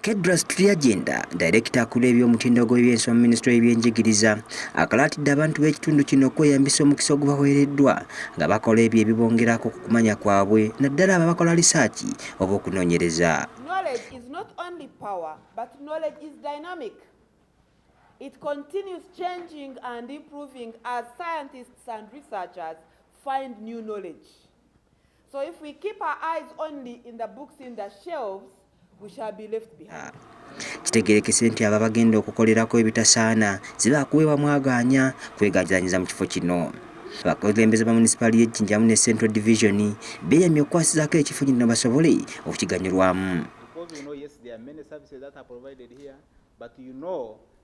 Kedras Turyagenda, dayirekita akulira eby'omutindo gw'ebyensi mu minisitule y'ebyenjigiriza, akalaatidde abantu b'ekitundu kino okweyambisa omukisa ogubaweereddwa nga bakola ebyo ebibongerako ku kumanya kwabwe naddala abo abakola lisaaki oba okunoonyereza. It continues changing and improving as scientists and researchers find new knowledge. So if we keep our eyes only in the books in the shelves, we shall be left behind. Kitegerekese nti abo abagenda okukolerako ebitasaana ziba kuweebwa mwagaanya kwegajanyiza mu kifo kino. Abakulembeze ba munisipaali y'e Jinjamu ne Central Division beeyamye okukwasizaako ekifo kino basobole okukiganyulwamu.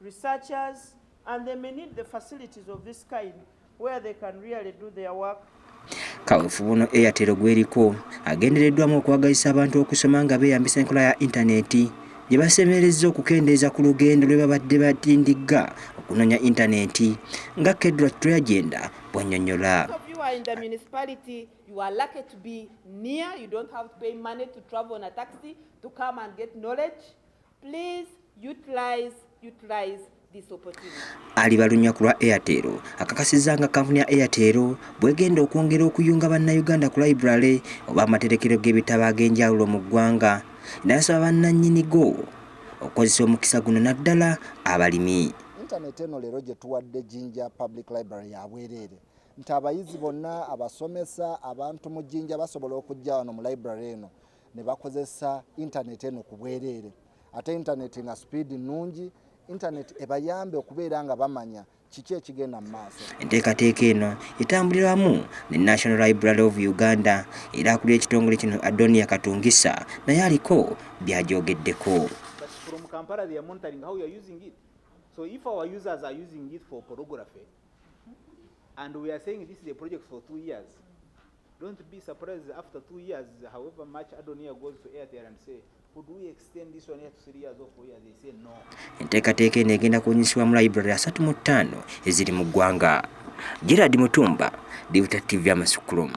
researchers and they may need the facilities of this kind where they can really do their work kawufu buno eyatero gweriko agendereddwamu okwagazisa abantu okusoma nga beeyambisa enkola ya intaneti gye basemerezza okukendeeza ku lugendo lwe babadde batindigga okunoonya intaneti nga kedra tragenda bw'annyonnyola Please utilize, utilize alibalumya ku lwa airtel akakasizza nga kampuni ya airtel bwegenda okwongera okuyunga bannayuganda ku library oba amaterekero g'ebitabo ag'enjawulo mu ggwanga nasaba bannannyini go okukozesa omukisa guno naddala abalimi intaneti eno leero gye tuwadde jinja public library ya bwereere nti abayizi bonna abasomesa abantu mu jinja basobola okujja wano mu library eno ne bakozesa intaneti eno ku bwereere ate intaneti nga sipiidi nnungi intaneti ebayambe okubeera nga bamanya kiki ekigenda mu maaso enteekateeka eno etambulira wamu ne national library of uganda era akulira ekitongole kino adonia katungisa naye aliko byajogeddeko So if our users are using it for pornography, and we are saying this is a project for two years, Don't be surprised after two years, however much Adonia goes to Airtel and say, could we extend this one here to three years or four years? They say no. Enteekateeka eno egenda kunyisibwa mu library asatu mu ttaano eziri mu ggwanga. Gerard Mutumba, Divuta TV Amasukulumu.